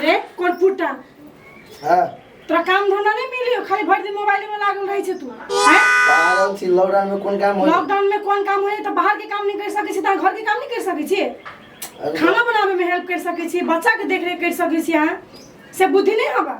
रे कोरपुटा हाँ तोरा काम धंधा नहीं मिली हो खाली भर दिन मोबाइल में लागल रही छे तू हैं पागल छी लॉकडाउन में कौन काम हो लॉकडाउन में कौन काम होए तो बाहर के काम नहीं कर सके छी ता घर के काम नहीं कर सके छी खाना बनावे में हेल्प कर सके छी बच्चा के देख रेख कर सके छी हां से बुद्धि नहीं हवा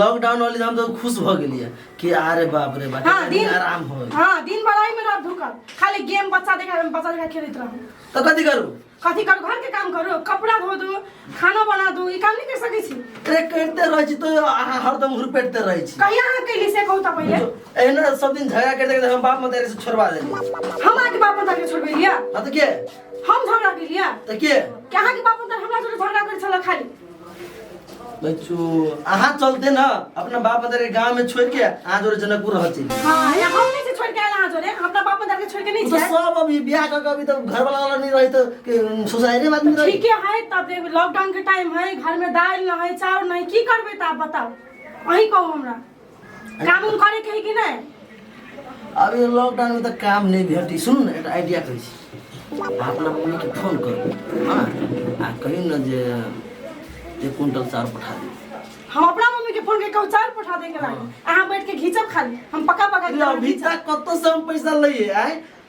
लॉकडाउन वाली हम तो खुश भ गेलिए कि अरे बाप रे बाप हाँ, दिन आराम हो गइल। हां दिन भर आई में रह धुकल खाली गेम बच्चा देखा बच्चा देखा खेलत रहू तो कथी करू कथी कर घर के काम करो कपड़ा धो दो खाना बना दो ई काम नहीं कर सकै छी अरे करते रहे छी तो अहाँ हरदम हुरपेटते रहे छी कहिया अहाँ कैली से कहू त पहिले एहना सब दिन झगड़ा करते करते हम बाप मतारी से छोड़वा देली हम अहाँके बाप मतार के छोड़बे लिया हाँ तो के हम झगड़ा के लिया तो के कि अहाँके बाप मतार हमरा जोड़े झगड़ा करै छला खाली बच्चू अहाँ चलते ना अपना बाप मदर के गांव में छोड़ के अहाँ जोरे जनकपुर रह छी हाँ या हम नहीं से छोड़ के आयल अहाँ जोरे हम अपना बाप मदर के छोड़ के नहीं तो जाए सब अभी ब्याह करके अभी तो घर वाला वाला नहीं रही तो के सोसाइटी में आदमी रही ठीक है तब देख लॉकडाउन के टाइम है घर में दाल ना है चाउर ना है की करबे त आप बताओ अही कहू हमरा काम उम करे के है कि नहीं अब ये लॉकडाउन में तो काम नहीं भेटी सुनू ना एक आइडिया करै छी आ अपना मम्मी के फोन करू हाँ आ कहियो ना जे एक कुंटल चाउर पठा दी हम अपना मम्मी के फोन के कहू चार पठा देंगे लागे अहाँ बैठ के घीचब खाली हम पका पका के अभी तक कत से हम पैसा लइए आए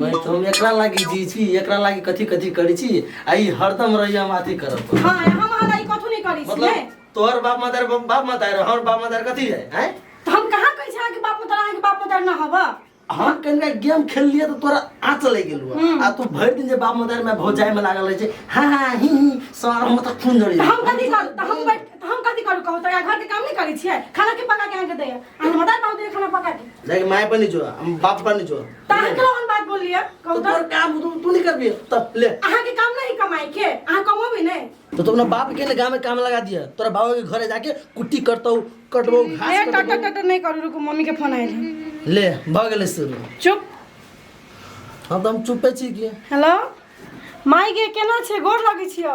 मैं तो हम एकरा लागी जी छी एकरा लागी कथी कथी करी छी आ ई हरदम रही हम अथी करब पर। हाँ हम हमारा ई कथू नहीं करी मतलब छिए तोहर बाप मदार बाप मदार हमर बाप मदार कथी है हैं तो हम कहाँ कही छी अहाँके बाप मतार अहाँके बाप मतार न हबा हम कनिका गेम खेल लिए तो तोरा आँच लग गेल हुआ। हम्म। आ तू भरि दिन जे बाप मदार में भौजाई में लागल रहे छै हाँ हाँ ही ही सारा हम तक खून जड़ी तो हम कथी करू तो हम बैठ तो हम कथी करू कहू तो घर के काम नहीं करी छिए खाना के पका के अहाँके दैया हम बता पाऊ तेरे खाना पका के जाके माय पर नहीं जो हम बाप पर नहीं जो तार के लोगन बात बोल लिया तो कहू तोर काम तू तू नहीं करबी तब ले अहाँ के काम नहीं कमाई के अहाँ कमो भी नहीं तो तुमने बाप के ने गांव में काम लगा दिया तोरा बाबा के घरे जाके कुट्टी करतो कटबो ए घास टट कटबो टट नहीं करू रुको मम्मी के फोन आइल है। ले भ गेले से चुप हम तो हम चुपे छी कि हेलो माई के केना छै गोर लगै छियो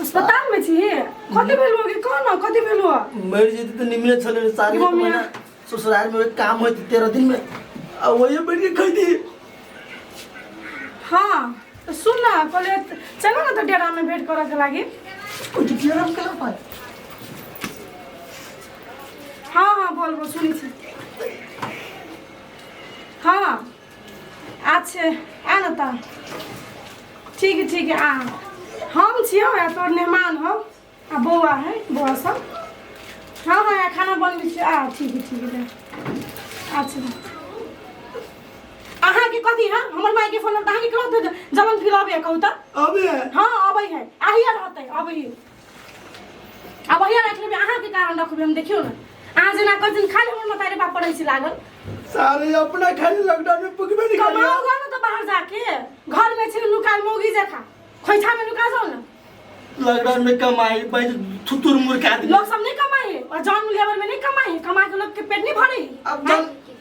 अस्पताल में छी कथी भेल होगी कह ना कथी भेल हुआ मरि जेती तऽ निमने छलै रे सारी मम्मी। महीना ससुराल में काम होती तेरह दिन में आ वही बैठ के खैती हाँ तो सुन ना कहले चलो ना तो डेरा में भेंट करे के लागी कुछ किया हम कहाँ पाए हाँ हाँ बोल बोल सुनी छी हाँ अच्छे आ न ता ठीक है ठीक है आ हम छियो आ तोर मेहमान हो आ बौआ है बौआ सब हाँ हाँ आ खाना बनबै छियो आ ठीक है ठीक है ले। अच्छा अहाँके कथी है हमर मायके फोन अहाँके कहत जलन फिर अबै कहू तऽ अबे हाँ अबै है आहिए रहतै अबै है अब अहिया रख लेबे अहाँ के कारण रखबे हम देखियो ना अहाँ जेना कर दिन खाली हमर मतारे बाप पड़ै छी लागल सारे अपना खाली लॉकडाउन में पुगबे नहीं कमाओ करिया घर में तो बाहर जाके घर में छी लुकाल मोगी जखा खोइछा में लुका जाओ ना लॉकडाउन में कमाई बैठ थुतुर मुर्खा आदमी लोग सब नहीं कमाए और जॉन लेबर में नहीं कमाए कमा के लोग के पेट नहीं भरे अब जन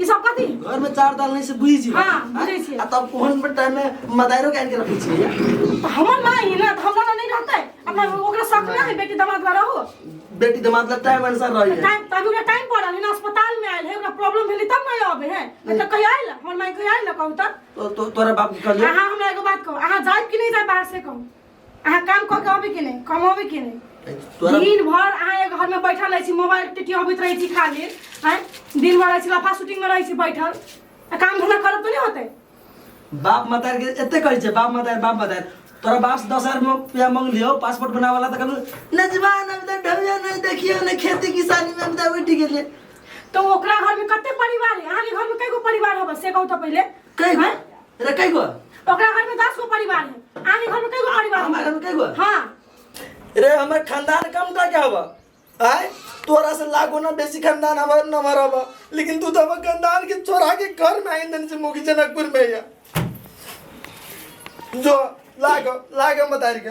ई सब कथी घर में चार दाल नहीं से बुझी छी हाँ, बुझै छियै। आ तब ओहन पर टाइम में मदारो काट के रखै छी तो हमर माँ ही ना तो हमरा ना नहीं रहते अपना ओकरा साथ ना है बेटी दामाद ला रहो बेटी दमाद ला टाइम अनुसार रही है टाइम तभी ओकरा टाइम पड़ल है ना अस्पताल में आयल है ओकरा प्रॉब्लम भेलै तब ना आबे है नहीं तो कहिया आयल हमर माँ कहिया आयल कहू तब तो तो तोरा बाप के कहले हाँ हाँ, हमरा एगो बात कहू अहाँ जायब कि नहीं जायब बाहर से कहू अहाँ काम कऽ के अबै के नहि कमबै के नहि तोरा दिन भर अहाँ एगो घर में बैठल रहे छी मोबाइल टिटी अबैत रहे छी खाली हैं दिन भर रहे छी लफा शूटिंग में रहे छी बैठल आ काम धंधा करब तो नहीं होते बाप मतार के एते कहै छै बाप मतार बाप मतार तोरा बाप से दस हजार में रुपया मांग लियो पासपोर्ट बना वाला तक नजवान अब तक ढबिया नहीं देखियो ने खेती किसानी में अब तक उठ गेले तो ओकरा घर में कते परिवार है अहाँ के घर में कई गो परिवार होबे से कहू तो पहले कई गो? हैं? अरे कई गो ओकरा घर में दस गो परिवार है आने घर में कई गो परिवार हमारे घर में कई गो है? हाँ रे हमर खानदान कम का क्या हवा आय तोरा से लाख गुना बेसी खानदान हमार न हमारा हवा लेकिन तू तो हमर खानदान के चोरा के घर में आइन देने से मुखी जनकपुर में या जो लाग लाग मतारी का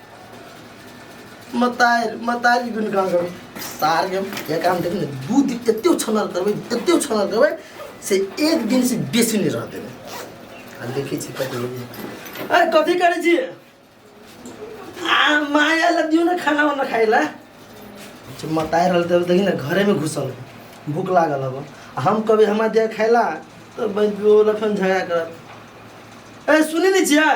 मतार मतारी गुन काम करबै सार के ये काम देख ने दू दिन एते छनर करबै एते छनर करबै से एक दिन से बेसी नहीं रह देबै आ देखै छी कथी होइए अरे कथी करै छी आ माया ला दियो ना खाना वाना खाए ला जे मताए रहल तब देखी ना घरे में घुसल है। भूख लागल अब आ हम कभी हमार दिया खाए ला तो बन बोला फिर झगड़ा करत ए सुनी नहीं छियै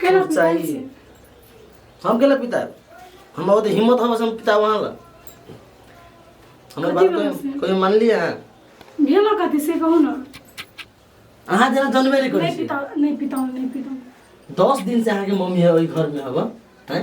केना खूब पिताजी? चाहिए हम केला पिता हम बहुत हिम्मत हम हम पिता वहाँ ला हमारे बात कथी बोलै कोई छी? कोई मान लिए हैं भेलो कथी से कहू ने अहाँ जेना जनबे नहीं करै नहीं छी पिता नहीं पिता नहीं पिता दस दिन से अहाँके मम्मी है ओहि घर में हब हैं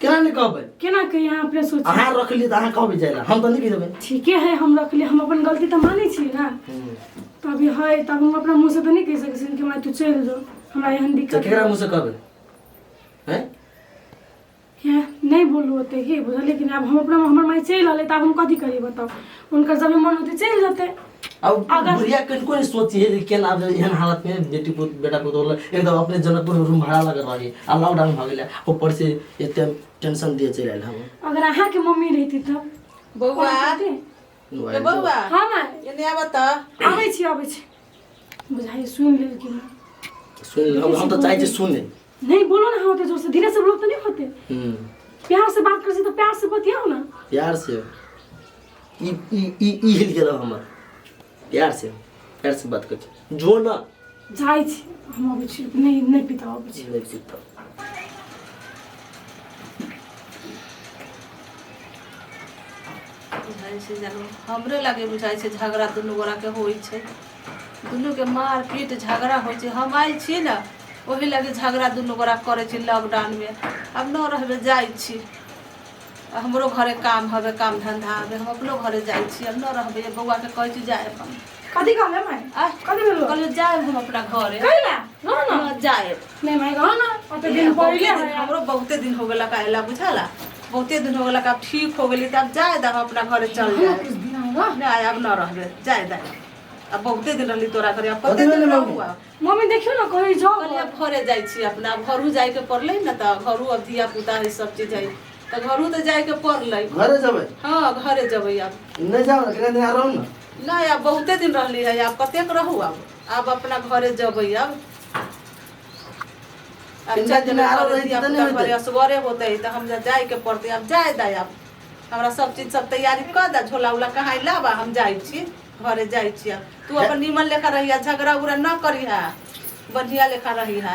केना नहि कहबै केना कही अहाँ अपने सोच अहाँ रखलियै तऽ अहाँ कहबै जाय हम तऽ नहि देबै ठीके है हम रखलियै हम अपन गलती तऽ मानै छी ने तऽ अभी है तब हम अपना मुँह से तऽ नहि कहि सकै छी कि माय तू चलि जो हमरा एहन तऽ दिक्कत केकरा मुँह से कहबै हैं है नहि बोलू ओते हे बुझल लेकिन आब हम अपना हमर माय चलि रहलै तऽ आब हम कथी करी बताउ हुनकर जब मन होतै चलि जेतै अब अगर- बुढ़िया कन कोन सोची है के ना दे एहन हालत में बेटी पुत बेटा पुत होला एक दम अपने जनकपुर में रूम भाड़ा लगे रही आ लॉकडाउन भ गेलै ऊपर से एते टेंशन दिए चलि आयल हम अगर अहाँ के मम्मी रहती तब बौआ कहती, ए बौआ हाँ माँ एने आबऽ तऽ आबै छी आबै छी बुझाइ सुनि लेलखिन सुन हम हम तऽ चाहै छी सुने नहीं बोलो ना होते जोर से धीरे से बोलो तो नहीं होते हम्म प्यार से बात कर से तो प्यार से बतियाओ ना प्यार से ई ई ई ई हिल गेलो हमर प्यार से प्यार से बात कर जो ना जाई छी हम अबै छी नहीं नहीं पिता अबै छी नहीं सीखता बुझाइ छै जेना हमरे लागे बुझाइ छै झगड़ा दुनू गोरा के होइ छै दुनूके मार पीट झगड़ा होइ छै हम आयल छी ने ओहि लगे झगड़ा दुनू गोरा करै छी लॉकडाउनमे आब न रहबै जाइ छी आ हमरो घरे काम हवे काम धंधा हवे हम अपनो घरे जाइ छी आब न रहबै ये बौआ के कहै छी जाए हम कथी कहले माय आ कथी भेलो कहलियो जाए हम अपना घरे कहिला रह ना ना जाए नहीं मैं कहो ना कते दिन पहले है हमरो बहुते दिन हो गेला काहेला बुझाला बहुते दिन हो गेला का ठीक हो गेली त अब जाए दा अपना घरे चल जाए कुछ दिन आएगा ना अब ना रहबे जाए दा अब बहुते दिन रहली तोरा घरे अब कते दिन रहुआ मम्मी देखियो ना कहीं जाओ कहलिए अब घरे जाइ छी अपना अब घरू जाए के पड़लै न त घरू अब धिया पुता है सब चीज है त घरू त जाए के पड़लै घरे जबै हाँ घरे जेबै अब नै जाउ न कने दिन रहू न नहीं अब बहुते दिन रहली है अब कतेक रहू अब अब अपना घरे जेबै अब अब तीन चार दिन दिन में आरो आरो रहि रहितियै तऽ नहि होइतै। पर असगरे होते तऽ हम जा जाय के पड़ते अब जाय दै अब हमरा सब चीज सब तैयारी कर दे झोला उला कहाँ लाबा हम जाइ छी घरे जाइ छी आब। तू अपन नीमन लेखा रहिया झगड़ा उगड़ा न करिहा बढ़िया लेखा रहिहा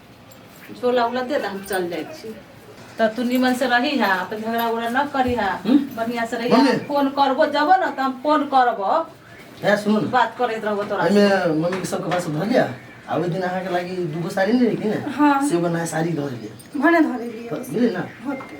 झोला उला दे दे हम चल जाइ छी तऽ तू निमन से रही है अपन झगड़ा उगड़ा न करी है हम्म? बढ़िया से रही मम्मी। है फोन करबो जबो न तऽ हम फोन करबो ए सुन न बात करैत रहबो तोरा से। एहिमे मम्मीके सबके पास धऽ लिअ आ ओहि दिन अहाँके लागि दूगो साड़ी नहि रहै कि ने हाँ। से एगो नया साड़ी धऽ लिअ भने धरे लिए तऽ बुझलियै ने होते